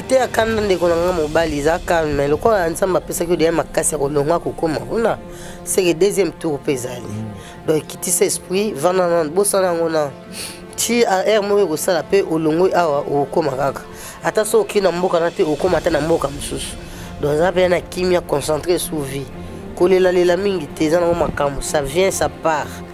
te ya kanda ndeko na ngai mobali eza calme lokola nzambe apesaki odeya makasi ya kolonga kokoma kuna seke deuxième tour mpe ezali mm. donc ekitisa esprit vanda na bosana yango na ti aire moko ekosala mpe olongoi awa okokoma kaka ata soki okei na mboka na te okokoma ata na mboka mosusu donc eza mpenza na kimia concentre sous vie kolelalela mingi te eza nango makambo ça vient ça part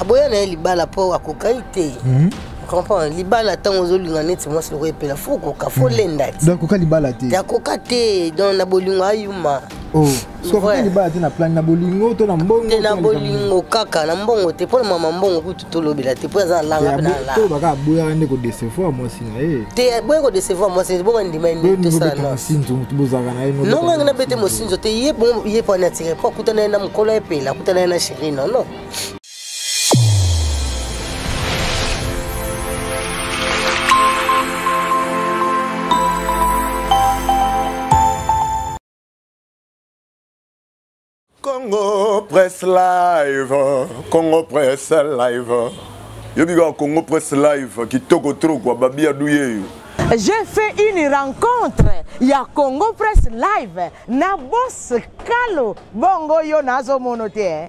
aboya na ye libala mpo akokai te hmm? comprendre libala ntango ozolinga neti mwasi loko epela fo okoka fo hmm. lenda ti akoka libala te akoka te donc na bolingo ayuma oh, sokoka libala te na plani na bolingo to na mbongo te na bolingo kaka na mbongo te mpo na mama mbongo kutu tolobela te mpo aza alanga mpe nalaaaka aboyaka nde kodecevoir mwasi na ye te aboya kodecevoir mwasi te bonga ndima tosalanosozaka na ye nongange na bete mosinzo te ye mpo anatire mpo akutana ye na mokolo epela akutana ye na cherie nono Congo Press Live, Congo Press Live. Yo bika Congo Press Live kitoko trop kwa babia duyeyo. J'ai fait une rencontre ya Congo Press Live na boss Kalo bongo yo nazo mono te. Eh?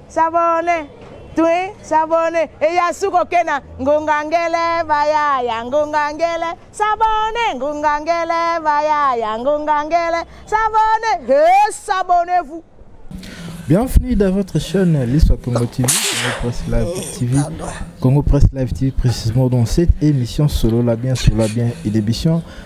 Sabone, twi, sabone, eya suko kena, ngungangele, bayaya, ngungangele, sabone, ngungangele, bayaya, ngungangele, sabone, he, sabone vous. Bienvenue dans votre chaîne L'Histoire Congo TV, Congo Presse Live eh, TV, Congo Presse Live TV, précisément dans cette émission Solo la bien, Solo la bien et l'émission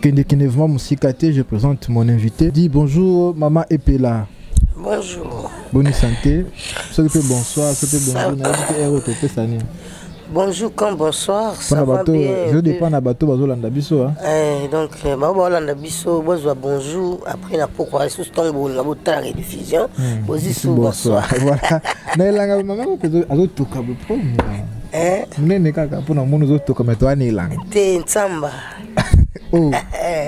Kende kende vraiment musika te, je présente mon invité. Dis bonjour maman Epela. Bonjour. Bonne santé. Ce que bonsoir, ce que bonjour, na dit que héros topé sani. Bonjour comme bonsoir. Ça va bateau, bien. Je dépend na bateau bazo landa biso hein. Eh donc euh, ba ba landa biso bozo bonjour après na pourquoi sous ton bon na botala rediffusion. Hmm. Bozi sous bonsoir. Voilà. Na elanga maman ko azo toka bo problème. Eh. Munene kaka pona munu zo toka metwa na elanga. Te nsamba. oh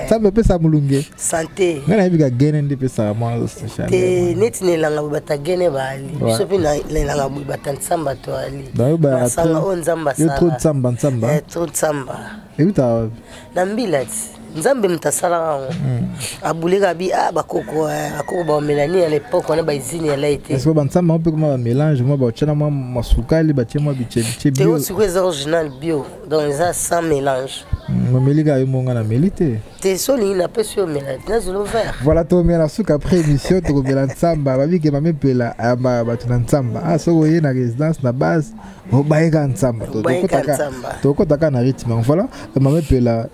nzambe apesa molunge sante ngai nayebi ka gene nde epesaka mwa te neti na elanga boye bata gene baali biso mpe na elanga boye bata nsamba to ali masanga oyo nzambe asalayo nsamba nsamba eh, tro nsamba euta wapi na mbila ti nzambe moto asalaka yango hmm. abuleka bi a ah, bakoko eh, bakoko baomelani ya lepoke wana baizini ya lai te siko bansamba mpe koma bamélange mwa baotyana mwa masukali batye mwa bicebice bio te osiko eza original bio donc eza sans mélange mameli kaka yo monga na meli te te so olingi napesi yo omela nazolo vert voilà tomela suka après émission tokomela nsamba babike mamepela ayambaka bato na nsamba a ah, soki oye na résidence na base obayeka nsamba tokotaka na rythme voilà mamepela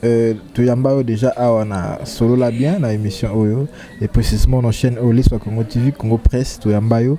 Euh, toyamba yo déjà awa na solola bien na émission oyo et précisément na chaîne oyo liswa congo tv congo presse toyamba yo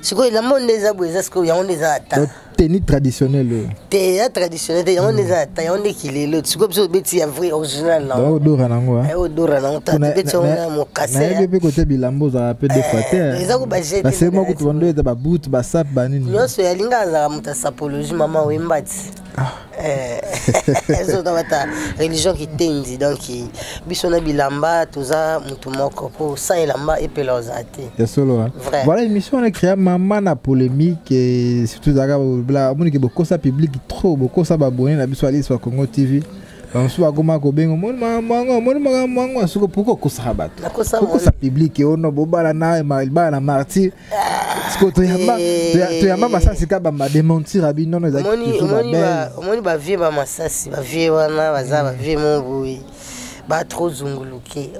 sikoyo elamba nde eza boye eza sikoyo yango nde eza ata teni traditionnel oyo te ya traditionnel te yango nde eza ata yango nde kilelo sikoyo biso obeti ya vrai original naodora nango odora nango tobeti yango na mokasnayebi mpe kote bilamba ozalaka mpe defa te eza ko bajetbasema kutu bando eza babutu basape banini nyonso yalinga azalaka moto ya sapologie mama oyembati ezota eh, bata religion kitendi donc biso na bilamba toza motu moko mpo sans elamba epela oza te ya solo ah. voilà émission wana créa mama na polémique eh, surtout ezalaka omonike bokosa public trop bokosa babone na biso alisi ba congo tv bamosusu bakoma kobenga omoni makambo yango omoni makambo yango soki mpoki okosaka bato okosa publike ono bobala na libala na martyre siko toyamba eh. toyamba masasi ka bamba dementir abi nono ezaki toujours ba belle omoni ba vieux ba masasi ba vieux wana baza ba vieux mongui ba trop zunguluke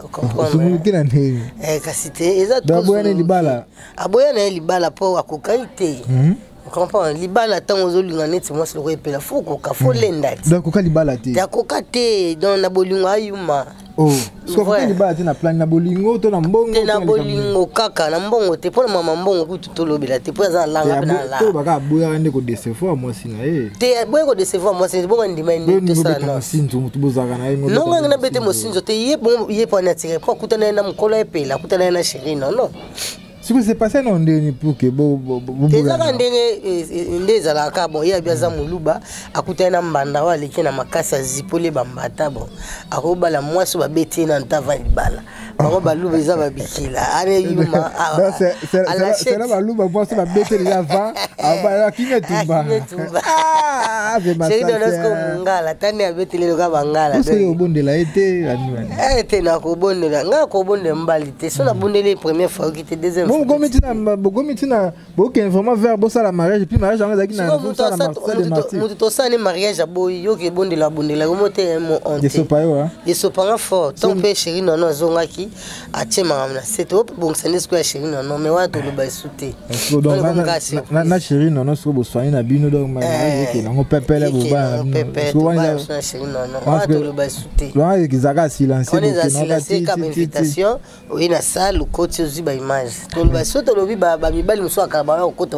zunguluke na ndenge eh, kasi te eza aboya na ye libala aboya na ye libala mpo akokaki te mhm. comprendre libala ntango ozolinga neti mwasi loko epela fo koka fo hmm. lenda ti donc koka libala te yakoka te donc na bolingo ayuma oh, sokoka libala te na plani na bolingo to na mbongo te na bolingo kaka na mbongo te mpo na mama mbongo kutu tolobela te mpo aza na langa mpe na langa baka aboyaka nde kodecevoir mwasi na ye te aboye kodecevoir mwasi te bonga ndima nde tosala nosinzo motu bozalaka na ye nongangi na bete mosinzo te ye mpo wana atire mpo akutana ye na mokolo epela akutana ye na chéri nono siko se passe na ndeni pour que bo bo bo ezaka ndenge eh, eh, nde ezalaka bon ye abi aza muluba akutani na mbanda oyo aleki na makasi azipoli bambata bon akobala mwasi babeti ye na ntava libala bango baluba eza babikila ale yuma alasela baluba mwasi babeti deja va akinga tumba mungala tani abeteli loka bangala obondela ye te te nakobondela ngai akobondela mbali te soki abondeli première fois oki te deuxième bokomi ntina bokomi ntina bokende vraiment vers bosala mariage epuis mariage yango ezalaki namoto tosala ne mariage aboyi yoki ebondela abondela yomo te eh, mo onteesopa yo ah. esopanga fort ntango mpe chéri nono azongaki atie makambo na se tobongisa nde sikoyo ya chéri nono mai wana toloba esu te na chéri nono soki boswani na bino donc mariage eh, ekende yango pepele bobaana chéri nono wana toloba esu te wana ezaka silencieon eza silencie kaka bainvitation oye na salle okoti ozwi baimage toloba so tolobi bamibali mosusu akala baya kokota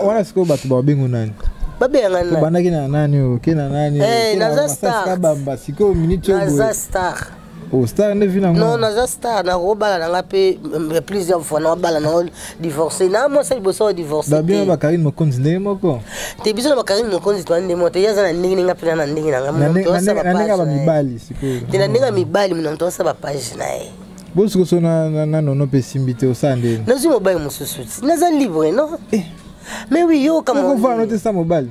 wana sikoyo bato babengo nani babengaka nani obandaki na nani oke na nani eh, naza star bamba sikoyo minute oyo naza star o oh, star nde vi nango non naza star nakobala nanga mpe plusieurs fois nakobala nango divorce na mwasi liboso ya divorce babia na bakarine mokonzi ndenge moko te biso na bakarine mokonzi toa nde moko te ye aza na ndenge ndenge apena na ndenge na ngamndenge ya mibali sikoyo te na ndenge ya mibali mona moto asa bapage na ye bosikoso na nono mpe esimbi te osala ndeni nazwi mobali mosusu ti naza libre no eh. mais wi yoka moko vana te sa mobali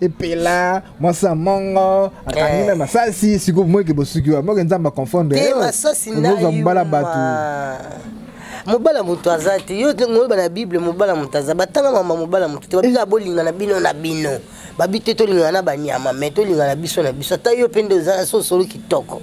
epela mwasi ya mongo akangi eh. na masasi sikoyo moyeke bosuki wa moke nzambe aconfondre eh, ozwa mobala bato mobala moto aza te yo ngoyeba na bible mobala moto aza batanga mama mobala moto te babika bolingana bino na bino babi te tolingana na banyama mai tolingana biso na biso ata yo mpe nde oza so osolo kitoko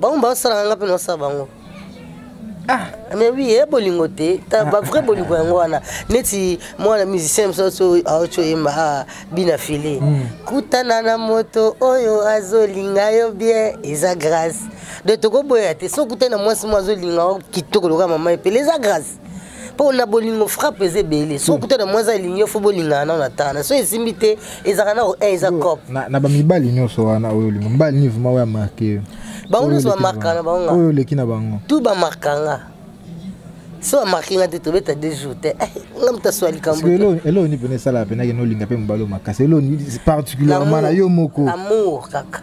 bango baosalaka nga mpe naosala bango ah. mais oui ye eh, bolingo te ah. bavrai bolingo yango wana neti mwana musicien mosusu aoco yemba ah, bina file hmm. kutana na moto oyo azolinga yo bien eza grâce de tokoboya te so okutani na mwasi mo azolinga kitoko lokola mama epele eza grâce mpo na bolingo frappe eza ebele so okuta na mwasi alingi yo fo bolingana nao na tana so esimbi te ezalaka nao e eza cop na bamibali nyonso wana oyo olingi mibali nini vraimen oyo amarke yo bango nyonso bamarka na bango oyo oleki na bango tu bamarka nga so bamarke nga te tobeta deux jours te eh, nga moto aswa likamboeloo ni mpena esalaka mpenake nolinga mpe mobali oyo makasi eloo particulièrement na yo moko amour kaka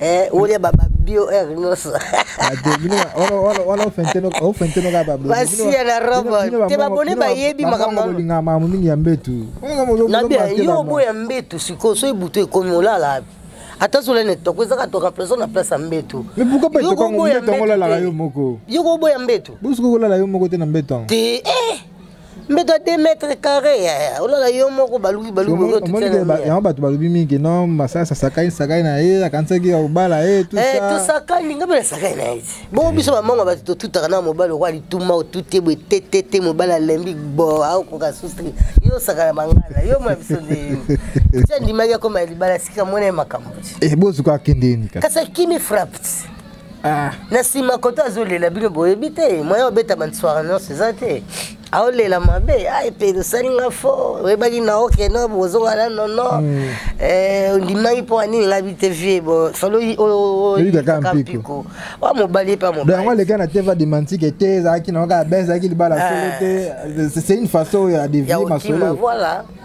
eh olia ba ba bio er nyonso basiya na robo te babone bayebi makambolingama mingi ya mbetu yo oboya mbetu sikoyo so ebutu ekomi olala abi ata zola na etoko ezaka to remplaçant na place ya mbetu yo koboya mbetu te eh mbeto ya 2 mètre carré eh, olala yo moko baluki balukiyango bato balobi mingi no masala sasakani sakani na ye akanisaki obala ye eh, tosakani eh, ngai mpe nasakani na ye bongo biso bamongo bato totutaka na mobali okoa lituma otute boye tetete mobali alembi bo aokoka sustri yo osakana mangala yo mona biso nde ti andimaki akoma ya libala sika mona ye makambo bozuka akende ye kasi akimi frappe Ah. na nsima koto azolela bino boyebi te moya obeta bansoire nyonso eza te aolela mabe ai mpe osali nga fo oyebaki na oke no bozonga na nono hmm. eh, ondimaki mpo anini nga bite vie bo soloyi oyikaka mpiko wa mobali mpe mobayango aleka na teva demantike te ezalaki na oka ben ezalaki libala ah. solo te c'est une façon oyo adevie masolo voilà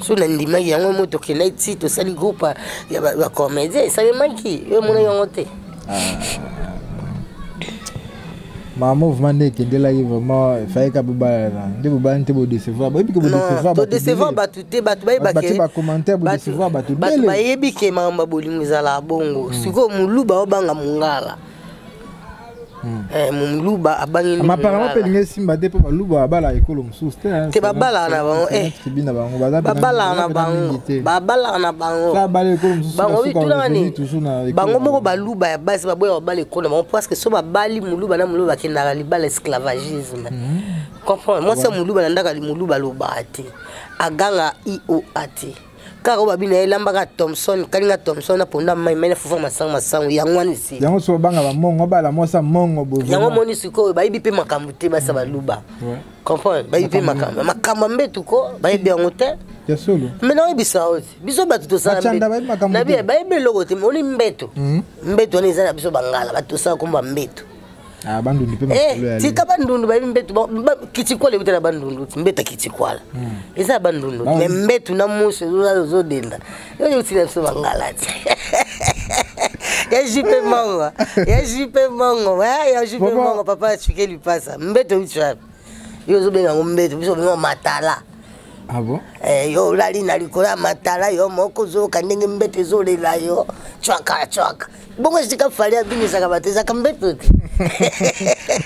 so nandimaki yango mo tokendaki ti tosali groupe ya bacomédien esalemaki yo emona yango te ah. ma mouvement nde ekendelaki vraiment efai ka bobalana nde bobalani te bodecevoir boyebi ke bodecevoir bato te bato bayebaki bacommentaire bodecevoir bato bato bayebi ke makambo ya bolingo ezalaka bongo mm. sikoyo moluba obanga mongala Hmm. Eh, moluba abangi ma apparemment mpe elingi esimba te mpo baluba babalaka ekolo mosusu te te babalaka na bango eh. tribi na bango babalaka na bango babalaka na bango bango bitunani bango moko baluba ya basi baboya babala ekolo na bango parce que so babali moluba na moluba bakendaka libala esclavagisme hmm. comprendre mwasi ya moluba na ndaka moluba alobaka te aganga ioa te kaka oyo babi na ye lambaka thomson kalinga thomson na ponda mai mai na fufa masango masango yango wana esi yango so obanga bamongo bala mwasa mongo bo yango omoni sikoyo bayebi mpe makambo te basa baluba comprendre bayebi mpe makambo makambo ya mbetu ko bayebi yango te ya solo me nayebisa yo te biso bato tosalabayebi eloko te oni mbeto mbeto wana eza na biso bangala bato tosala komba mbeto Ah, bandundu mpe eh, masolo ya tika bandundu bayebi mbetu kitikwala euta na bandundu mbeta kitikwala hmm. eza bandundu me mbetu na musu ozodenda oyo otina biso bangala te ya jipe mongo ya jipe mongo eh, ya jipe mongo papa asuke lipasa mbetu euti wapi yo ozobenga yango mbetu biso obenga matala Ah bon? Eh, yo olali na likolo ya matala yo moko ozoyoka ndenge mbeto ezolela yo cwaka cwaka bongo esika fali abimisaka bato ezaka mbeto te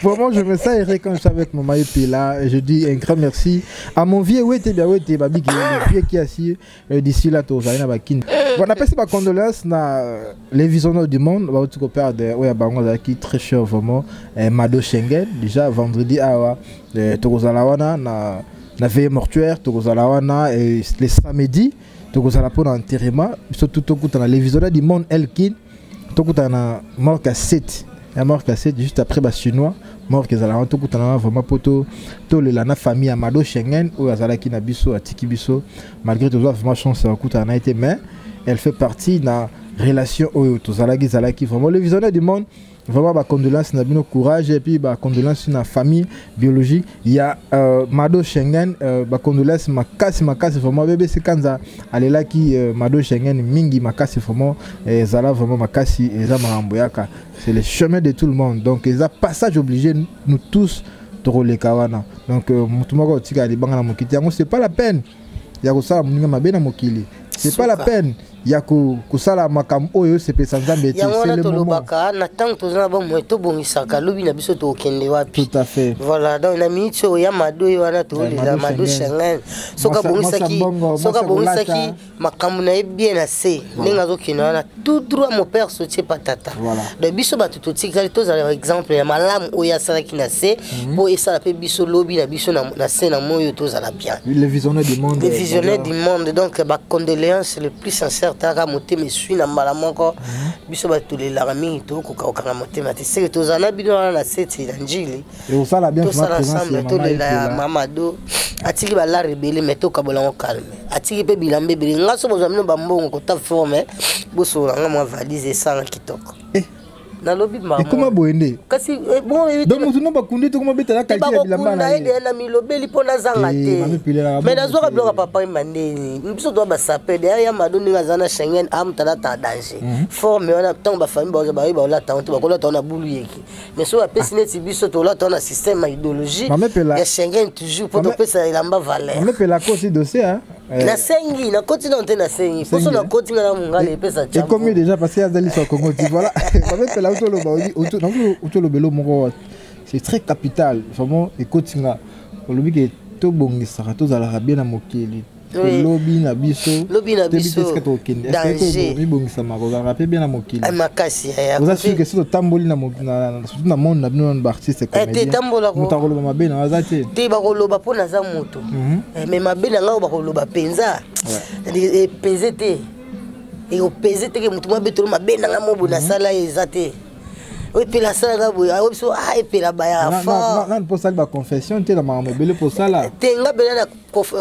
bon, moi, je me sens erré quand je suis avec Maman Epela. Je dis un grand merci à mon vieux Wete, bien Wete, Babi, le vieux qui a assis euh, d'ici là, tout, j'arrive à Bakin. Bon, on appelle ça ma condolence, na euh, les visionnaires du monde, bah, tu coopères de, ouais, Bango, qui très cher, vraiment, euh, Mado Schengen, déjà vendredi, ah, ouais, Tokozalawana, na. na veille mortuaire tokozala wana euh, le samedi tokozala mpo na enterrement biso tu tokutana le visionnaire du monde elkin tokutana na mort ya 7 ya mort ya 7 juste après bachinois mort ezala wana tokutana wana vraiment mpo tolela na famille ya mado schengen oyo azalaki na biso atiki biso malgré tozwa vraiment chance ya kokutana na ye te mais elle fait partie na relation oyo tozalaki ezalaki vraiment le visionnaire du monde Vraiment ba condoléances na bino courage et puis ba condoléances na famille biologique ya euh, Mado Schengen euh, ba condoléances makasi makasi vraiment bébé Sekanza alelaki euh, Mado Schengen mingi makasi vraiment et zala vraiment makasi et za marambo yaka c'est le chemin de tout le monde donc ils a passage obligé nous tous tokoleka wana donc euh, motu moko otika libanga na mokiti yango c'est pas la peine ya kosala moninga mabe na mokili c'est pas la peine ya kosala makambo oyo osepesa nzambe te yango wana tolobaka na ntango toza na bomoi tobongisaka lobi na biso tokokende wapi tout à fait voilà donc na minute oyo ya mado oyo wana toolela mado shengen soki abongisaki makambo na ye bien na se ndenge azokende wana tout droit mon père sotie pa tata voilà. donc biso bato totikali tozala exemple ya malamu oyo asalaki na se mpo mm -hmm. esala mpe biso lobi na biso na se na moi oyo tozala bien le visionnaire du monde le visionnaire du monde donc bacondoléance le plus sincère taka motema eswi na mbala moko mm -hmm. biso bato tolelaka mingi tokoka kokanga motema te seke tozala na bino wana na seti na njili ekosala bien vraiment présence ya tolela ya mama do atiki balar ebele mai tokabola yango calme atiki mpe bilamba ebele nga so bozwa bino bambongo kota forme bosolola nga mwa valise esanga kitoko eh. nalobi maekoma boye nde kasi eh, donc motu no bakundi tokoma betala kalite ya bilamba na ye na milobeli mpo nazanga eh, te mai nazwaka biloko papa yemba ndeni biso toa basape daya ya mado ndenge aza na schengen amotalata ah, danger mhm. forme wana ntango bafamille baoza baoyi baolata yango te bakolata yango na bulu yeke mais soki apesi neti biso tolata wana système ya idéologie ya schengen toujours mpo topesa elamba valeur eh. nasengi nakoti nano te nasengi mposo nakoti nga na mongala epesa ekomi déjà parce que azali so congo ti voilà mamepela otoloba otolobelo moko c'est très capital vraiment ekoti nga olobi ke tobongisaka tozalaka bien na mokili Oui. lobi na biso Lobi na toyebi biso. te esika tokokende Danger. esika komibongisama kozalaka mpe bien na mokili Eh, makasi eh, oza akufi. sur que soki otamboli na mo- na- na- surtout na monde na bino na baartiste te, tambola ko- moto akoloba mabe na aza te te bakoloba mpo naza moto Mhm. Eh, me mabe na ngai oyo bakoloba mpenza Eh, epeze te eopeze te ke motu mwa betolo mabe na ngai mobo nasala ye eza te oyo epela asala ngai boye ayebi biso ah epela baya Na- na- na- fort nani mpo osali baconfession te na makambo ebele mpo osala te nga bela na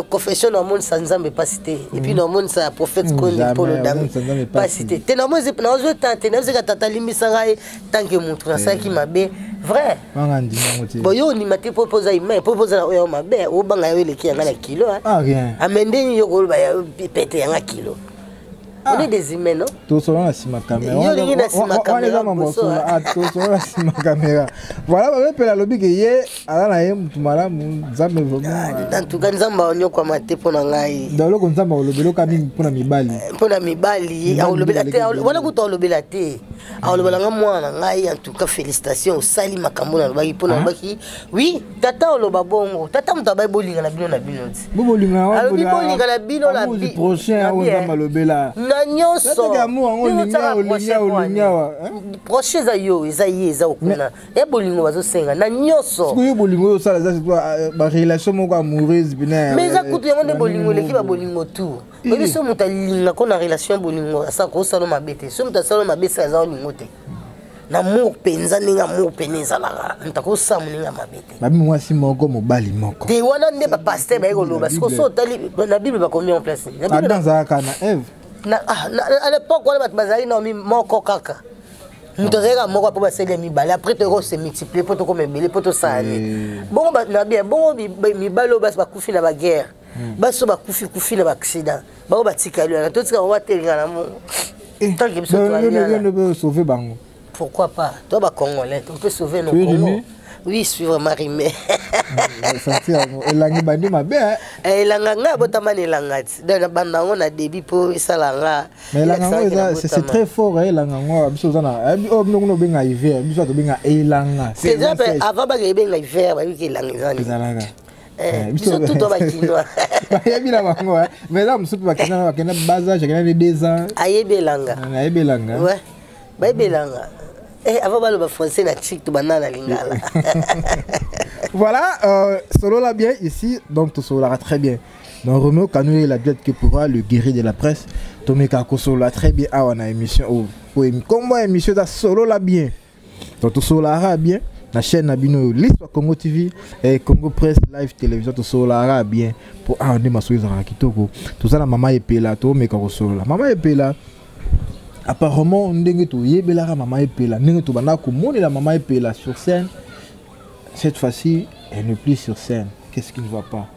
confession na omonisa nzambe mpasi te epuis na omonisa prophète mm, koni polo dame mpasi te te naozo ta te naozeka tata alimbisa ngai tanke motu nasalaki eh. mabe vrai bon yo ondima te mpo oza humain mpo oza na oyo mabe obanga yo eleki yanga na kilo amende ah, ah, nini yo koloba pete yanga kilo Ah. Ode des humains, non Tosolo na sima caméra. Yo lingi na sima caméra. Wana mambo solo. Ah, tosolo na sima caméra. Voilà, ba pela lobi ke ye ala na ye mutu malamu nzambe vraiment. Ah, en tout cas nzambe onyo kwa mate pona ngai. Nda loko nzambe olobelo ka mingi pona mibali. Eh, pona mibali, olobela te, wana kutu olobela te. Olobela nga mwana ngai en tout cas félicitations osali makambo na lobaki pona lobaki oui tata oloba bongo tata moto abai bolingana bino na bino ti alobi bolingana bino na nyonsoproche eza yo eza ye eza okuna ya bolingo bazosenga na nyonsobolingo oyo osala barelation euh, moko amoureuse bina mais eza kutu yango nde bolingo eleki babolingo tour oyebi so moto alinga ko na relation bolingo asala kosala mabe te so moto asala mabe esala eza olingo te na mur mpenza ndenge ya mur mpene ezalaka ntakosa moninga ya mabe te babi mwasi moko mobali moko te wana nde bapaster baye koloba siko so otali na bible bakomi en place adam azalaka na eve ah, à l'époque wana bato bazalaki na moko kaka moto azalaka moko mpo basali ya mibale après toyoko se multiplier mpo tokoma ebele mpo tosala nini eh. bongo na bien bongo mibale oyo basi bakufi na baguerre baso bakufi kufi na baaccident bango batikali wana totika bango batelinga na mongo eh, ntanke biso toyende sauve bango pourquoi pas to bacongolais on peut sauver nos congo oui suivre marime santi yango elangi bandi mabe eh? eh, elanga ngai abotama na elanga ti donc nabanda yango na début mpo esala nga mais elanga yango eza c'est très fort eh, elanga yango biso oza na eh, oyo bino kuna obenga hiver biso tobenga elanga c'est déjà avant baka ebenga hiver bayiki elanga eza nini Eh, biso tuto bakinois bayebi na bango mais eza mosusu mpe bakenda bakenda bazage akenda ne deux ans ayebi elanga eh, ayebi elanga bayebi elanga eh, avant baloba français na chic tobanda na lingala voilà euh, solola bien ici donc tosololaka très bien donc romeo kanouye la duette que pourra le guéri de la presse tomeka kosolola très bien awa na émission oyo oh, oh, nkombo ya émission eza solola bien donc tosololaka bien na chaîne na bino oyo lispa congo tv eh, congo press live télévision tosololaka bien mpo awa ah, nde masolo ezalaka kitoko toza na mama epela toomeka kosolola mama epela apparemment ndenge toyebelaka mama epela ndenge tobandaka komonela mama epela sur scène cette fois-ci elle ne plus sur scène qu'est-ce qui ne va pas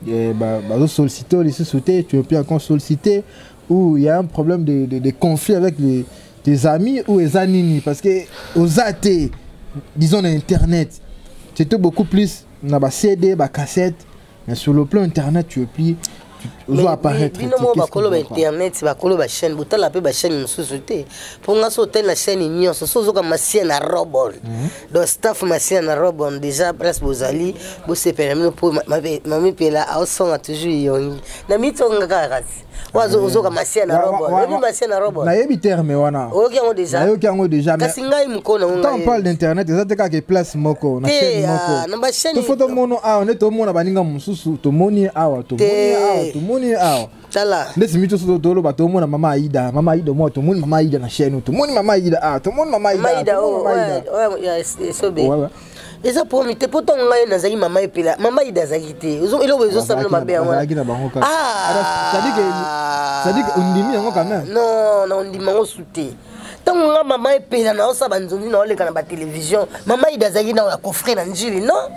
eh, bazosollicite oyo lisusu te tu ne plus encore sollicite ou il y a un problème de, de, de conflit avec les, tes amis ou eza nini parce que oza te disons na internet tu étais beaucoup plus na ba CD ba cassette mais sur le plan internet tu es plus ozo apparaître bino moko bakolo ba internet bakolo ba chaîne botala mpe ba chaîne mosusu te mpo nga so otali na chaîne nyonso so ozoka masia na robol mhm. donc staff masia na robol déjà place bozali bosepela mino mpo mamipela aosonga toujours yongi na mitongaka kasi wazo ozoka masia na robo oyebi masia na robo nayebi terme wana oyoki yango deja nayoki yango deja kasi ngai mokolo nango ngai parle d'internet eza te kaka place moko na chaîne ah, moko na ba chaîne to foto mono awa nde to mona baninga mosusu to moni awa to moni awa to moni awa tala nde simi to soto tolo ba to mona mama Aida mama Aida mo to moni mama Aida na chaîne to moni mama Aida ah to moni mama Aida mama Aida oh ouais ouais sobe eza promi te mpo ntango ngai nazalaki mama epela mama ida azalaki te eloko ezosalana mabe yangosadike ondimi yango kame non na ondimi yango su te ntango ngai mama epela naosala banzonzi naoleka na batelevizio mama ida azalaki nao ya kofre na njili non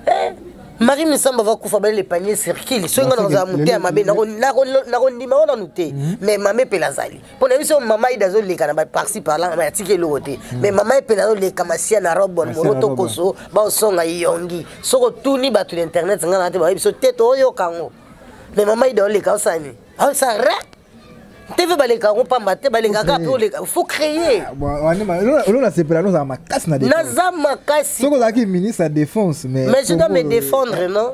eh? marie misamba vakufa bale le panier circule soki ngai nakozala moteya mabe nakondima ngo nanu te mais mama epela azali mpo na biso mama ida azoleka na parci parla ma atiki eloko te hmm. mais mama ye mpene azoleka masia na robon moro tokoso baosonga yongi soki otuni bato na internet ngai naa te bayebi biso te tooyoka yango mais mama ida oleka osani aosa re tv baleka yango mpamba te baleka kaka mpe oleka faut créer ah, olo nasepela nozala makasi na naza makasi soki ozalaki ministre ya défense mais mais je dois me défendre non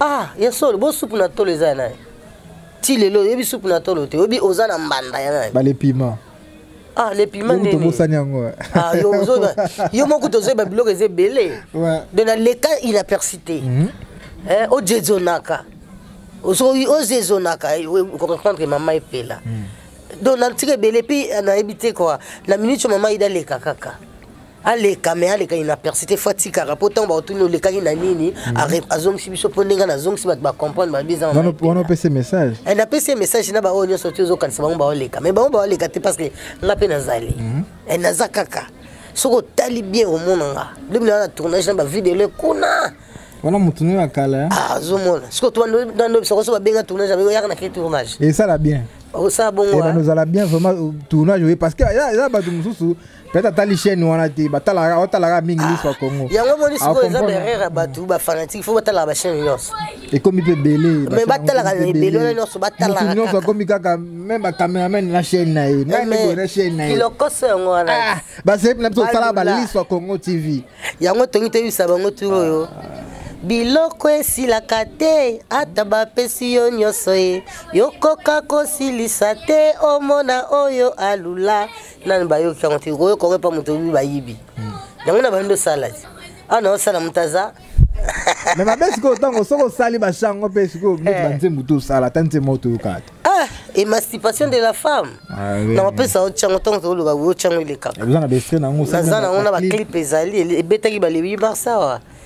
ah ya solo bo supu na tolo eza ya nani ti lelo oyebi supu na tolo te oyebi oza na mbanda ya nani balepima ah le piment nini tobosani yango ah yo ozo yo moko tozo ba biloko eza ebele de na leka inaperçu te mhm. eh o jezonaka ozo o jezonaka eh, ko comprendre mama epela mhm. donc na tika ebele puis eh, na ebite quoi na minute mama ida leka kaka aleka me aleka inaperci te fo atikaka mpo ntango bakotuni olekaki na nini mhm. azongisi biso mpo ndenge na azongisi bato bacomprendre babizawana opesi message eh, napesi ye message na baoyo nyonso ti ozokanisa bango baoleka me bango baoleka te parce que nga mpe nazali mhm. eh, naza kaka soki otali bien omona nga lobi naa na tournage na bavideo kuna wana motu nini ya kala eh? ah, azomona soki otubandobisa koso babenga tournage abeko yaka na ke tournage esala bien osala bongo eh, ozala bien vraiment euh, tournage oye parce que eza bato mosusu peut-être atali chaîne wana te batalaka otalaka mingi liso ya congo ah, yango omoni sikoyo eza berere ya bato bafanatique fo batalaka bachaîne nyonso ekomi mpe ebele mais batalaka ebele wana nyonso batalaka nyonso akomi kaka meme bacameraman na chaîne na ye nani boye na chaîne na ye kilokoso yango wana ah, basepi na biso osalaka baliso ya congo tv yango tongi toyebisa bango turo oyo biloko esilaka te ata bapesi yo nyonso ye yokoka kosilisa te omona oyo alula nani bayoki yango te koyoka oyo epa moto oyebi bayibi hmm. yango na bandi osala ti awa na osala moto aza me mabe sikoyo ntango soki osali bashango mpe sikoyo neti eh. banzembo to osala ata nzembo oyo toyokaka te ah, émancipation de la femme ah, nakopesa yo ntango ntango tokoloba yo ntango elekaka naza nango na baclipe ezali ebetaki balebi barsawa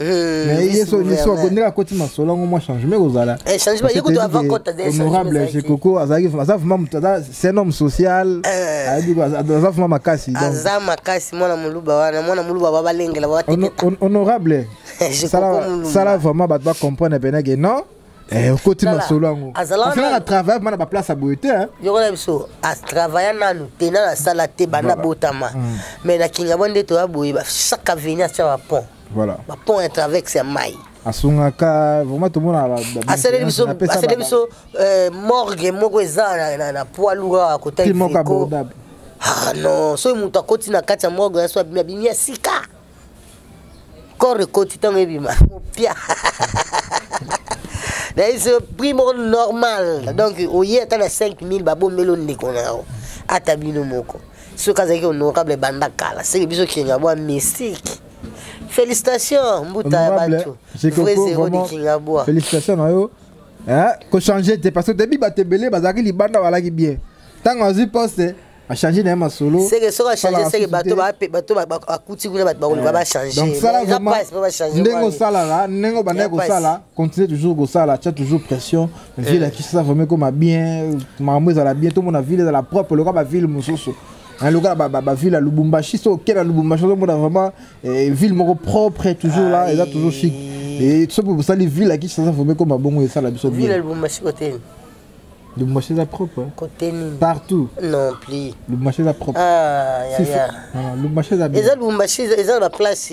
Eh, yesu yesu akondela akoti masolo yango mwa changement ekozala eh, honorable jekoko azalaki aza vrima moto aza c'est un homme social eh. aza vrima makasi aza makasi mwana moluba wana mwana moluba babalengela honorable sala vraiment bato bacomprendre pene ke non okoti masolo yango asalaka travaille mana baplace ya boye te yokola biso atravaille nanu te nanu asala te banda botama mais na kingabo nde toya boye chaque avenir atya bapont voilà ba pont ya travexe ya mai asungaka vraiment tomona asaleli biso asaleli biso euh, morgue moko eza na, na poids lourd awa kotali moko abordable ah non soki moto akoti na kati ya morgue ya so abimi abimi ya sika corps ekoti ntango ebima mopia naye so prix moko normal donc oye ata na 5000 babombeli ondeko na yango ata bino moko soki azalaki honorable banda kala seke biso kinga bwa mystique félicitation mbuta ya bato vrai zero de kinga bwa félicitation na yo kochange te parce que debi bato ebele bazalaki libanda balaki bien ntango azwi poste achange na ye masolo seke soki achange seke bato bakuti kuna bato bakoluka bachangendenge osalaka ndenge obandaki kosala continue toujours kosala tia toujours pression ville ya kinshasa vraimen ekoma bien makambo ezala bien tomona ville ezala propre loka baville mosusu lokola baville ya lubumbashi so okela lubumbashi ozomona vraiment eh, ville moko propre toujours là eza toujours chic soki bosali ville ya kinshasa vraimen ekoma bongo esala biso bien Le marché est propre. Hein. Côté nini? Partout. Non plus. Le marché est propre. Ah, ya, si, ya. Non, le marché est bien. Eza le marché, eza la place.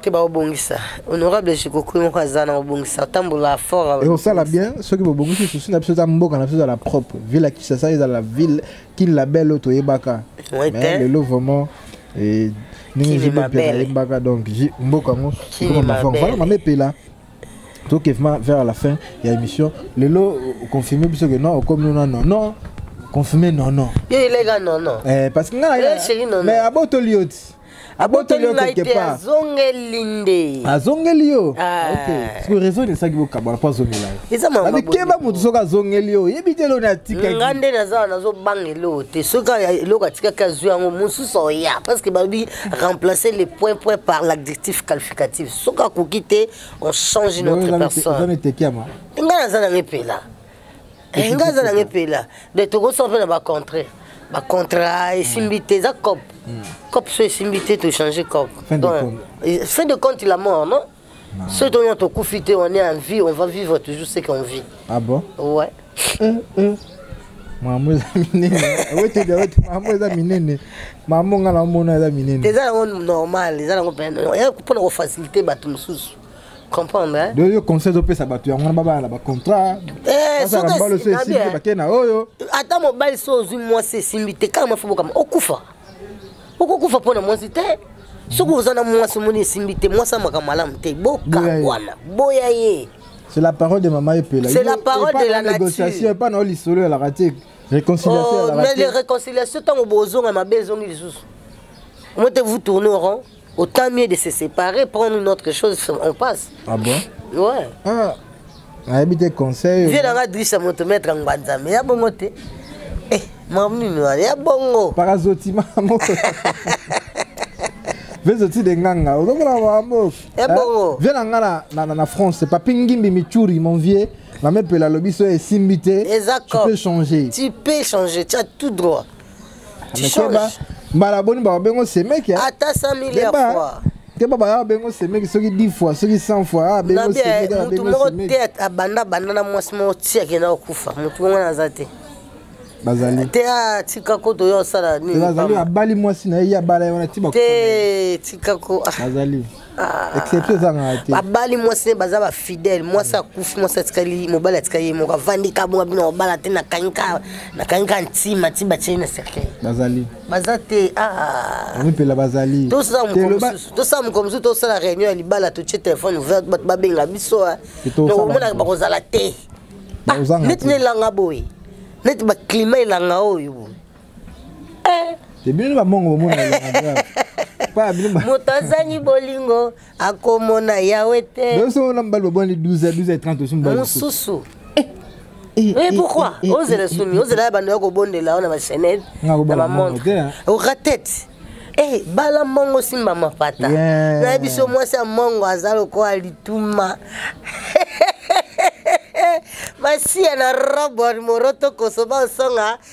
te baobongisa honorable jikokui moko aza na obongisa otambola fort ekosala bien soki bobongisi susi na biso eza mboka na biso ezala propre ville ya kisasa ezala ville kin label oyo toyebaka lelo vraiment eh, ndenge jibepela ayembaka donc mboka yango ekoma mama epela toke vraiment vers la fin ya émission lelo confirme biso ke non okomi no non non confirme non non yo eleka non non eh, parce que ngai mais abotoli yo ti abotoli yo quelque part azongeli nde azongeli yo ah. ok siko raison esaki bokabana mpo azongela yo eza mababi keba moto soki azongeli yo oyebi te eloni atikaki nga nde naza nazobanga eloko te soki eloko atikaki azwi yango mosusu oya parce que babi remplacer le point point par l'adjectif qualificatif soki akoki te on change notre personne nga naza nango epela eh, nga aza nange mpela donc tokosala mpe na bacontre bacontra esimbi te eza cop hmm. cop so esimbi te tochange cop fin de compte la mort non soki tonya tokufi te on est en vie on va vivre toujours ce qu'on vit ah bon ouais hmm, hmm. mamo eza minene awetedi aweti mamo eza minene mamo ngai namona eza minene eza yango normal eza yango mpona kofacilite bato mosusu comprendre donc yo conseil ezopesa bato yango wana babala na bacontrat eh, mbalo so esimbi te bakei na oyo ata mobali so ozwi mwasi esimbi te kaka mafubo kama okufa okokufa mpo na mwasi te soki oza na mwasi omoni esimbi te mwasi amaka malamu te bokakwana boya ye c'est la parole de mama epela c'est la parole de la négociation epa na yo lisolo ya laka te réconciliation oh, mais les réconciliation ntango bozonga mabe ezongi lisusu omo te vous tourne au rond Autant mieux de se séparer, prendre une autre chose, on passe. Ah bon Ouais. Ah. nayebi te conseil vie nanga drisa moto maître ngbanzambe ya bongo te eh, mamnini wana ya bongo parazoti mamo vezoti de nganga ozomona mambo ya eh, bongo vie na nga na france papi ngimbi michuri mon vieux mamepela alobi so esimbi te tu peux changer tu peux changer tu as tout droit amekeba mbala boni bababengo semeki ata 100 milliard fois te ba baya bengo semeki soki 10 fois soki 100 fois ah bengo semeki na bengo moko te abanda banda na mwasi moko ti akenda kokufa motu yango naza te bazali te atika ah, ko toya osala nini bazali abali mwasi na ye abala ye wana ti te tika ko ah. bazali Ah. exception ezangaka te babali mwasi ne baza bafidèle mwasi akufi mwasi atikali mobali atikali ye moko avandi kabonga bino babala te nakangika ntima ti batie na cercueil bazali baza te ah. mipela bazali tosala mokolo mosusu tosala réunion ya libala totie telefone ouvert bato babenga biso ah. omonaka bakozala te neti nelanga boye neti baclima elanga oyo eh. te bino ba mongo ba mona moto azangi bolingo akomona yawe te biso na mbali babwani 12 12 30 osu mbali mosusu Eh, eh, pourquoi eh, ozela sumi ozela ya bando ya kobondela yo na bachenete na bamontre oratete Hey, bala mongo simba mapata yeah. na biso mwasi ya mongo aza lokola lituma masiya na robert moroto kosoba osonga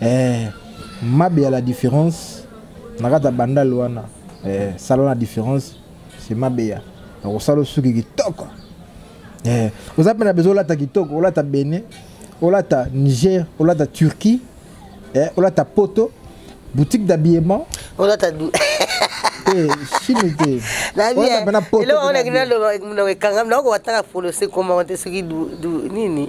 eh, mabe ya la différence na kati ya bandal wana eh, sala na différence se mabe ya akosala osuki kitoko eh, oza mpe na bezo olata kitoko olata bene olata niger olata turquie eh, olata poto boutique d'habillement olata du eh, chine te olata mpe na poto eloko wana ekangami nakokoka tanga folose komante soki nini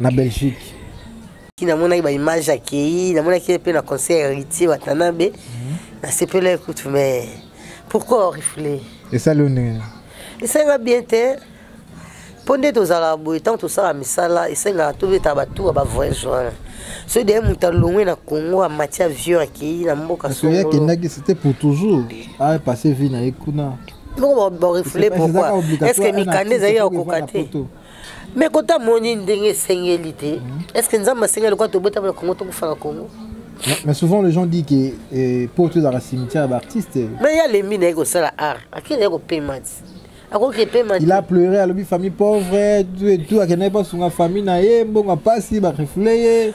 na belgique namonaki baimage akei namonaki ye mpe na conseil ya héritier watanabe mhm. nasepela ekute mais pourquoi orifle esali yo ndenge esalinga bien te mpo nde tozalaka boye ntango tosala misala esengaka tobeta batuka bavoyage wana soki deye moto alongwe na congo amati avion akei na mboka soki akendaki c'était pour toujours apasse vie na ye kuna moko barefule pourquoi est ce que mikanda ezali ya kokoka te me kota moni ndenge esengeli te mhm. est ce que nzambe asengeli kwa tobotama na kongo tokufa na kongo mais souvent les gens disent que eh, po tozala cimetière baartiste mais ya lembi naye kosala art akende ye kopema ti akoki epema il a pleuré alobi famille pauvre tout akendaki basunga famille na ye mbongo apasi barefule ye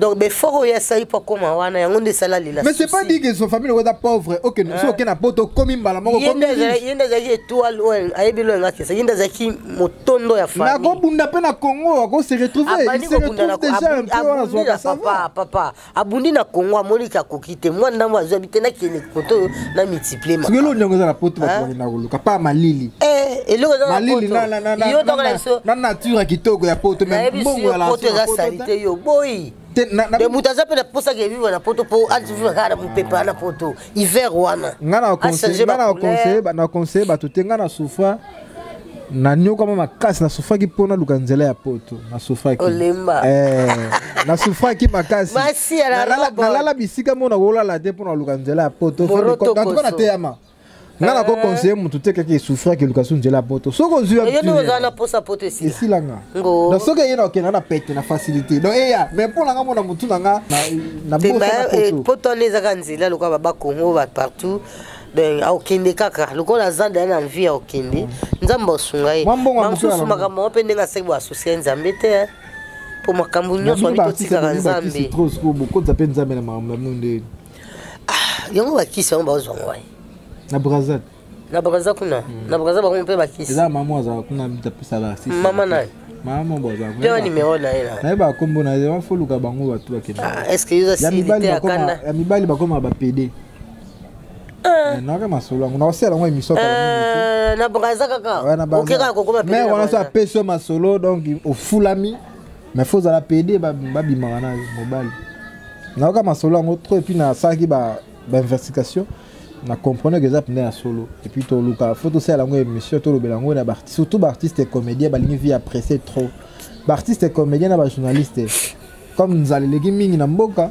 donc befort oyo asali mpo akoma wana yango nde esala lela mais c'est pas dit que son famille okoza pauvre oke so oke na poto okomi mbala moko ye nde azalaki étoile oyo ayebi lo yanga kesa ye nde azalaki motondo ya famille nakobunda mpe na congo ako se retrouver il se retrouve déjà un peu wana zwaka ça va papa abundi na congo amoni ke akoki te mwa ndambo azwa bi te nakende koto oyo na multiplie soki eloko ndenge eza na poto bato bakenda koluka pa malili eh, eloko eza malili na nature ya kitoko ya poto mbongo ya poto eza salite yo boyi de moto aza mpe na mposa ke vivre na poto mpo avivre kaka na mopepa na poto hiver wana nga na conseille bato te nga na souffra nanyokwama makasi nasufaki mpo naluka nzela ya poto nasufaki eh, nasufaki makasialala bisika mpo nakolala te mpo naluka nzela ya poto antuka nateyama nga nako eh. conseille motu te kaka esufraki eluka su nzela ya poto soki ozuiesilanga donc soki eye nakokenda na pete na facilité donc eya mais mpo nanga mona motu na nga napoto wana ezaka nzela lokola babakongo bapartout donc akokende kaka lokola aza deya na vie akokende nzambe asunga ye bamosusu makambo yango mpe ndenge asaki boasosie nzambe te eh. mpo makambo nyonso wabi totikaka nzambe bokoza mpe nzambe na makambo na bino nde ah, yango bakisi yango bazwa ngai na brazil na brazil kuna hmm. na brazil bango mpe bakisi eza mama azala kuna apesa bakisi mama naye mama bozampe nimero na ye nayeba nkombo na ye wafoluka bango bato bakenda ah, ya mibali bakoma bapede Eh. naka masolo yango nakosala yango émission eh, na braza kaka oke kaka kokoma mais wana so apesi yo masolo donc ofulami mais fo ozala pede babimaka na mobali nayoka masolo yango trop epuis nasalaki bainvestigation na comprendre que eza mpena ya solo epuis toluka fo tosala yango émission tolobela yango na surtout baartiste comédien balingi vie ya presse trop baartiste comédien na bajournaliste comme nzala eleki mingi na mboka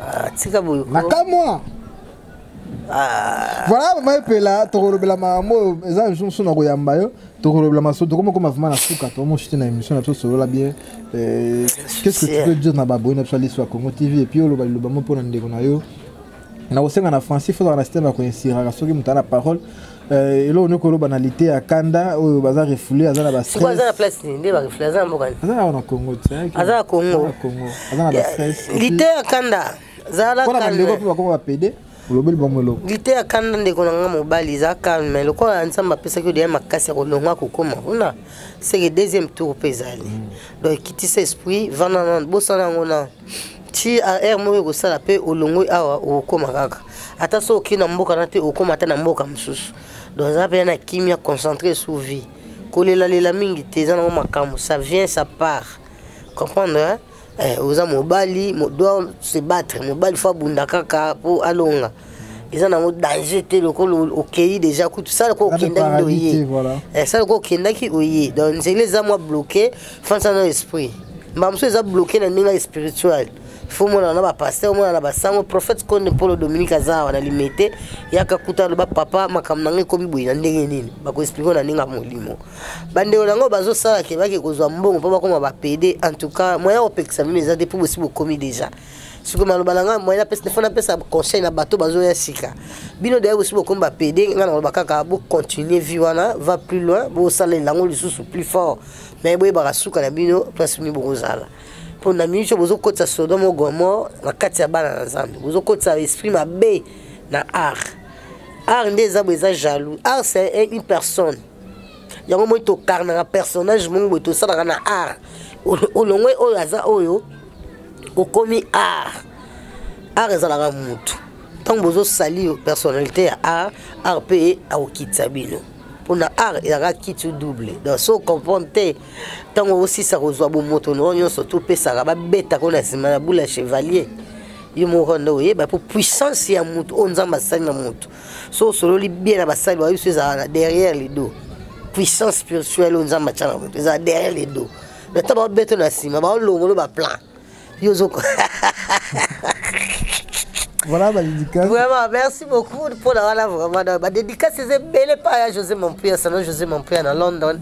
Ah, tika boye nakamwa ah. voilà mama epela tokolobela makambo oyo eza lisusu mosusu na koyamba yo tokolobela maso tokomokoma vraimen na suka tomoshite na émission na biso solola bien euh, qu'est ce que tu peux dire na baboyi na biso aliso ya congo tv epuis oloba liloba mo mpo na ndeko na yo nakosenga na français fozala na systeme ya koinsiraka soki moto ana parole Euh, eloko nioki oloba na lite ya kanda oyo baza refoule aza na bastress aza na place nini nde barefoule aza na mboka aza awa na congo aza na congo aza na bastress lite ya kanda zalapona bandeko mpe bakoma bapede olobeli bango eloko lite ya kanda ndeko na ngai mobali eza calme lokola nzambe apesaki odeya makasi ya kolonga kokoma kuna seke deuxième tour mpe ezali mm. donc ekitisa esprit vanda na bosana yango na ti ar moko ekosala mpe olongoi awa okokoma kaka ata soki okei na mboka na te okokoma ata na mboka mosusu donc eza mpe na kimia concentre sous vie kolelalela mingi te eza nango makambo ça vient ça part comprendre hein? eh, oza mobali doit se battre mobali fo abunda kaka mpo alonga eza nango danger te lokola okei déjà kutu sala ko okendaki nde oye eh, sala ko okendaki oye donc nzela eza mwa bloqué fansa na esprit mbala mosusu eza bloke na ndenge ya spirituel fo omonana na bapaster omonana na basango prophète konde mpolo dominique aza awa na limete yaka kuta aloba papa makambo na ngai ekomi boye na ndenge nini bakoexplike na ndenge ya molimo bandeko na yango bazosala ke bake kozwa mbongo mpo bakoma bapede en tout cas moyen ya kopekisa bino eza te mpo bosi bokomi déjà soki maloba na ngai moyen apesa fo napesa conseil na bato bazoya sika bino deya bosi bokomi bapede ngai na maloba kaka bocontinue vie wana va plus loin bosalela yango lisusu plus fort me boyebaka suka na bino place bini bokozala mpo na mingi so bozokotisa sodome gomor na kati ya bana na nzambe bozokotisa esprit mabe na art art nde eza boye eza jaloux art c'est une personne yango moi tokarnaka personnage moko boye tosalaka na art olongwe oyo aza oyo okomi art art ezalaka motu ntango bozosali personnalité ya art art mpe akokitisa bino mpona art ezalaka kitu double donc so comprendre te ntango osisa kozwa bomoto noo nyonso topesaka babetaka na nsima na bula chevalier yo moko nde oyeba mpo puissance ya motu oyo nzambe asali na motu so osololi bien na basali bayo biso ezalaka na derrière lido puissance spirituelle oyo nzambe atya na motu ezalaka derrière lido na ntango baobeto na nsima baolongolo baplan yo ozo voilà ba dédicace vraiment merci beaucoup pour la voilà vraiment ba dédicace c'est belé pas ya José Mampuya salon José Mampuya na London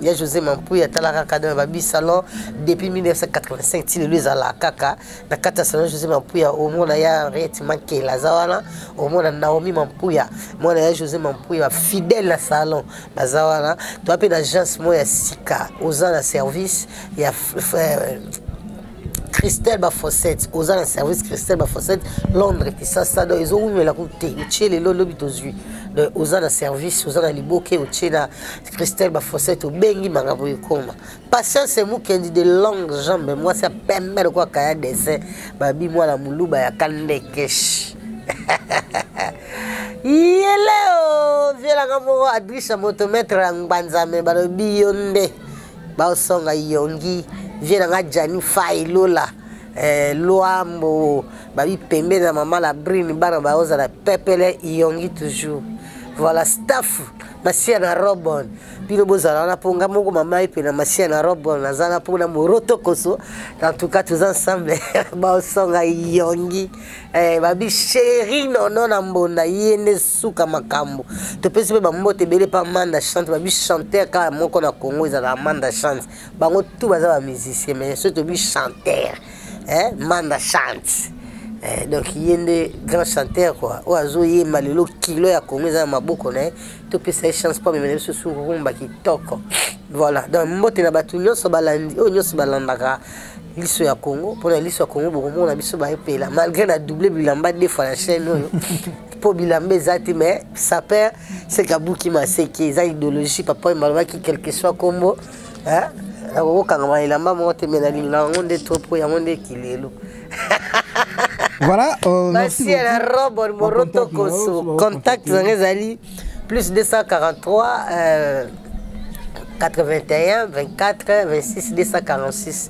ya José Mampuya talaka kada ba bi salon depuis 1985 ti lelo ezala kaka na kata salon José Mampuya au mona ya Henriette Mankela zawana au mona Naomi Mampuya mona ya José Mampuya fidèle na salon bazawana toi pe na agence moya sika oza na service ya christelle bafossette oza na service christelle bafossette londres kisasa donc ezowumela ku te otie lelo lobi tozwi donc oza na service oza na liboke otie na christelle bafossette obengi makambo ekoma patience mukendi de longue jambe mwasi ya pembe lokola kaya dessin babi mwana moluba ya kandekesh ye leo vielanga moko adrisha moto maître ya ngbanzame balobi yo nde baosonga yongi vie na nga jani fai lola eh, luambo babi pembeni na mama la brune bana baozala pepele yongi toujours voilà staff masiya na robon bino bozala wana mpo nga moko mama ye mpe na masiya na robon naza na mpo na moroto koso en tout cas toza ensemble baosonga yongi eh, babi sheri nono na mbonda ye nde suka makambo topesi mpe bambote ebele mpe amanda chante babi chanteur kaka moko na congo ezalaka amanda chante bango tu baza bamusicien mais soki tobi chanteur eh, manda chante eh, donc ye nde grand chanteur kua oyo azoyemba lelo kilo ya congo eza na maboko na ye topesa ye chance mpo amemela biso surumba kitoko voilà donc mbote na bato nyonso balandi oyo nyonso balandaka liso ya congo mpona liso ya congo bokomona biso baepela malgré na double bilamba defa na chaîne oyo mpo bilamba eza te mais saper seke abuki maseke eza idéologie papa oyo malobaki quelque soit nkombo akokokangama elamba moko te me nalinga yango nde to mpo yango nde kilelo voilà euh, merci la robe moroto koso contact nanga ezali plus 243 euh, 81 24 26 246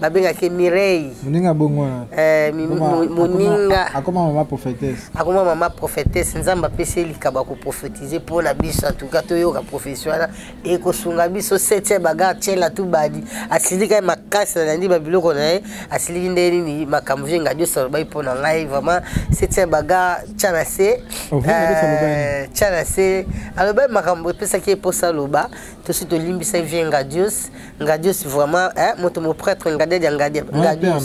babengaki mirei moninga bongo wana eh, moninga akoma mama prophétesse akoma mama prophétesse nzambe apesi ye likabo ya koprofetize mpo na biso antuka toyoka profesi wana ekosunga biso setie bagar tiela tu badi asilika ye makasi nalandi babiloko na ye asiliki nde nini makambo vie ngadi oso alobaki mpo na ngai vraiment setie bagar tya na se oh, eh, tya na se alobaki makambo epesaki ye mposa aloba tosi tolimbisaki vie ngadios Ngadios vraiment eh, moto mo prêtre ngadia dia ngadia ngadios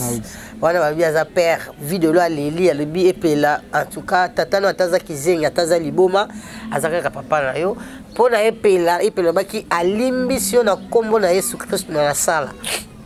wana balobi aza père vie de loi leli alobi epela en tout cas tata no ataza kizengi ataza liboma aza kaka papa na yo mpo na epela epela obaki alimbisi yo na nkombo na yesu kristo na nasala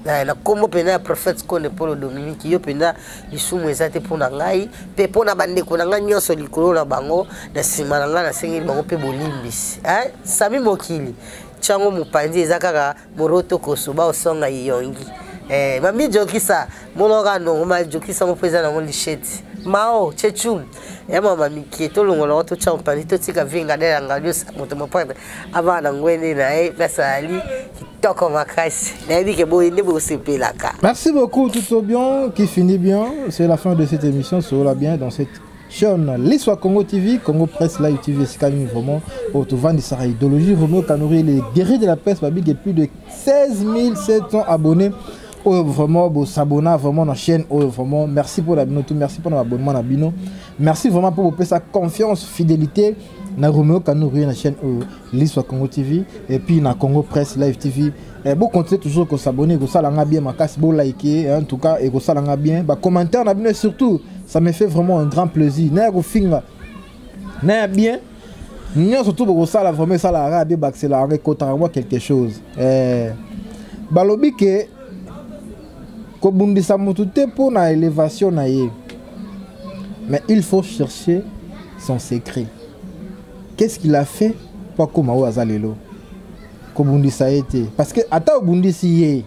na nkombo mpenza ya prophète konde polo dominiki yo mpenza lisumu eza te mpo na ngai mpe mpo na bandeko na ngai nyonso likolo na bango na nsima na ngai nasengeli bango mpe bolimbisi sami mokili Chango mupanzi eza kaka moroto koso ba osonga iyongi. Eh, mami jokisa monoka ndongo ma jokisa ngo peza na ngo lisheti. Mao chechum ya mama mikie to longola ko to cha mupanzi to tika vinga dela ngalio moto mopata abana ngwende na ye nasali kitoko makasi nayebi ke boye nde bosepelaka. Merci beaucoup tout au bien qui finit bien c'est la fin de cette émission soola bien dans cette Sean, l'histoire Congo TV, Congo Presse, Live TV, c'est quand même vraiment au Tovandi Sarah Idéologie, Romeo Kanori, les guerriers de la presse, Babig, et plus de 16 700 abonnés. oyo vraiment bosabona vraiment na chaîne oyo vraiment merci mpo na bino to merci mpo na baabonnement na bino merci vraiment mpo bopesa confiance fidélité na romeo kanorie na chaîne oyo liswa congo tv epuis na congo presse live tv Eh, bo continuer toujours ko s'abonner ko sala nga bien makasi bo liker hein, en tout cas et ko sala nga bien ba commentaires na bino surtout ça me fait vraiment un grand plaisir na ko finga na bien nyo surtout ko sala vraiment ça la radio baxela avec kotaka moi quelque chose eh balobi que kobundisa motu te mpo na élévation na ye mais il faut chercher son secret qu'est ce qu'il a fait mpo akoma oyo aza lelo kobundisa ye te parce que ata obundisi ye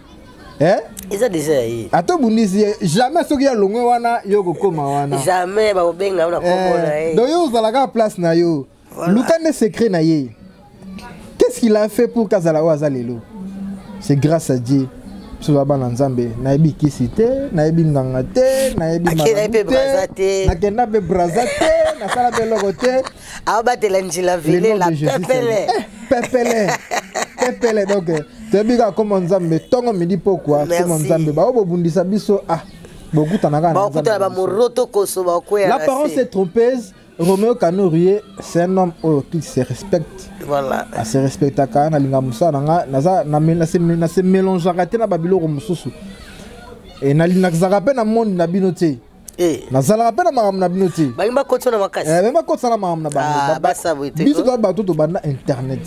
eh? eza deja ya ye ata obundisi ye jamais soki ya longwe wana yo okokoma wana jamais bakobenga na kombo na ye eh, donc yo ozalaka place na yo luka nde secret na ye qu'est-ce qu'il a fait pour kazala oyo aza lelo c'est grâce à dieu biso ba bana nzambe nayebi kisi te nayebi nganga te nayebi te nakenda mpe braza te nasala mpe eloko te aobatela njila vile la pepele eh, pepele pepele donc toyebi kaka koma nzambe ntongo midi pokwa koma nzambe baoyo bobundisa biso ah bokutanaka bakutana bamoroto koso bakweya l'apparence est trompeuse Romeo Kanourier, c'est un homme oh, qui se respecte. Voilà. Il ah, se respecte quand même. Il a se mélange à la Babylone. Et il a se mélange à la Babylone. Eh. nazalaka mpe na makambo na bino te balingi bakotisa na makasi eh, bakotisa na makambo na bangobiso ah, toza bato tobanda internet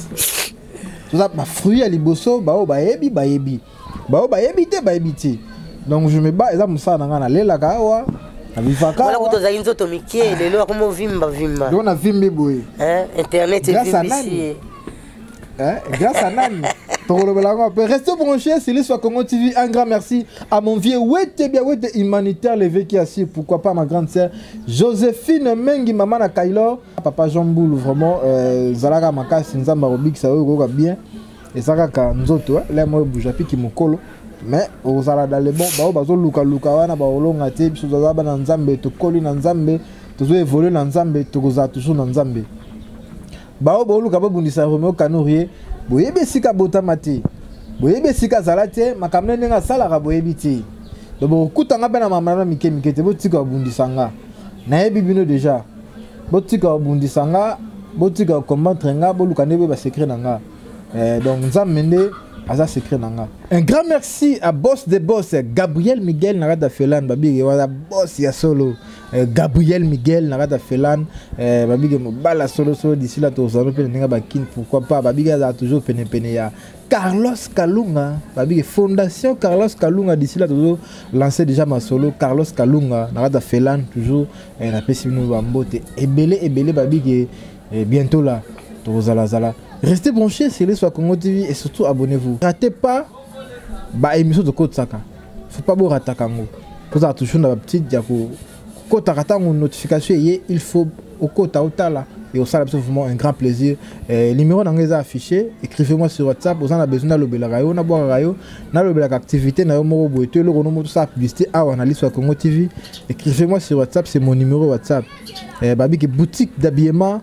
toza bafruit ya liboso baoyo bayebi bayebi baoyo bayebi te bayebi te donc je me bats eza mosala na ngai nalelaka awa nabivakakuta ozali nzoto mike lelo akomi ovimba vimba lelo navimbi boye eh, internet evimbisi Hein? Grâce à Nani Restez branchés, c'est l'histoire Congo TV. Un grand merci à mon vieux Wete Biawete humanitaire, levé qui assis. Pourquoi pas ma grande sœur Joséphine Mengi, maman à Kailor. Papa Jean Boulou, vraiment, euh, Zalaga Makas, Nzamba Rubik, ça va bien. Et ça va quand Nzoto, hein. là, moi, Boujapi qui m'ocolo. mais ozala dans le bon bao bazolukaluka wana baolonga te biso tozala bana nzambe tokoli na nzambe tozo évolue na nzambe tokozala toujours na nzambe baoyo boluka bobundisa romeo kanorie boyebi esika botama te boyebi esika azala te makambo na ndenge asalaka boyebi te do bokokuta nga mpe na mama na mike mike te botika kobundisa nga nayebi bino deja botika kobundisa nga botika kokombantre nga boluka nde boyeba secret na nga eh, donc nzambe nde aza secret na nga un grand merci à boss de boss gabriel miguel na kati ya felane babiki wana boss ya solo Euh, Gabriel Miguel na kata Felan euh, babike mobala solo solo d'ici là tozalo mpe na ndenge bakini pourquoi pas babike azala toujours pene pene ya Carlos Kalunga babike fondation Carlos Kalunga d'ici là tozo lancer déjà masolo Carlos Kalunga na kata Felan toujours euh, napesi bino bambote ebele ebele babike bientôt là tozala zala restez branchés sur les Congo TV et surtout abonnez-vous ratez pas ba émission tokotisaka faut pas borataka yango kozala toujours na bapetite ya kokotaka ntango notification eye il faut okota otala et osala biso vraiment un grand plaisir eh, numéro na ngai eza affiché écrivez moi sur whatsapp oza na besoin nalobelaka yo nabwakaka yo nalobelaka activité na yo moko boye to eloko nomo tosala publicité awa na liso ya congo tv écrivez moi sur whatsapp c'est mon numéro whatsapp eh, babiki boutique d'habillement